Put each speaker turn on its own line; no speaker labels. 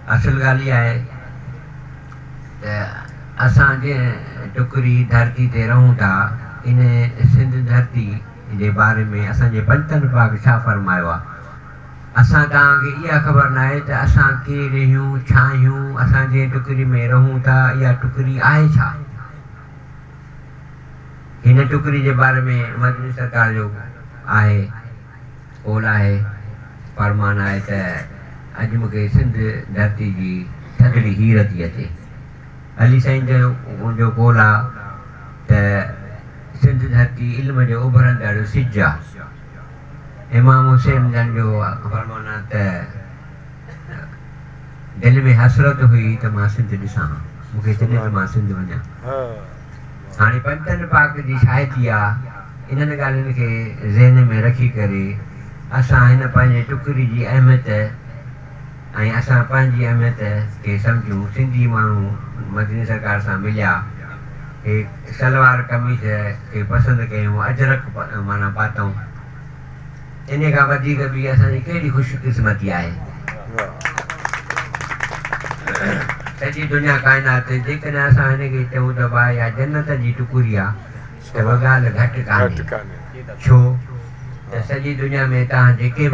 اصل ڳالهه اها آهي ته اسان جنهن ٽڪري ڌرتي تي رهون ٿا، ان سنڌ ڌرتي جي باري ۾ اسان جي پنجتن پاڪ ڇا فرمايو آهي؟ اسان توهان کي اها خبر ناهي ته اسان ڪير اهيون، ڇا اهيون، اسان جنهن ٽڪري ۾ رهون ٿا، اها ٽڪري آهي ڇا؟ هن ٽڪري جي باري ۾ مدني سرڪار جو آهي قول آهي، فرمان آهي ته اڄ مون کي سنڌ ڌرتي جي ٿڌڙي هير ٿي اچي. علي سائين جن جو قول آهي ته سنڌ ڌرتي علم جو اڀرندڙ سج آهي. امام حسين جن جو فرمان آهي ته دل ۾ حسرت هئي ته مان سنڌ ڏسان ها، مون کي دل ته مان سنڌ وڃان. هاڻي پنجتن پاڪ جي شاهدي آ، انهن ڳالهين کي ذهن ۾ رکي ڪري اسان هن پنهنجي ٽڪري جي اهميت، ۽ اسان پنهنجي اهميت کي سمجهون سنڌي ماڻهو مدني سرڪار سان مليا هي شلوار قميص کي پسند ڪيون اجرڪ معنيٰ پاتئون انهي کان وڌيڪ ٻي اسان جي ڪهڙي خوش قسمتي آهي سڄي دنيا ڪائنات جيڪڏهن اسان هن کي چئون ته واهه يا جنت جي ٽڪري آ ته اها ڳالهه گهٽ ڪانهي ڇو ته سڄي دنيا ۾ تان جيڪي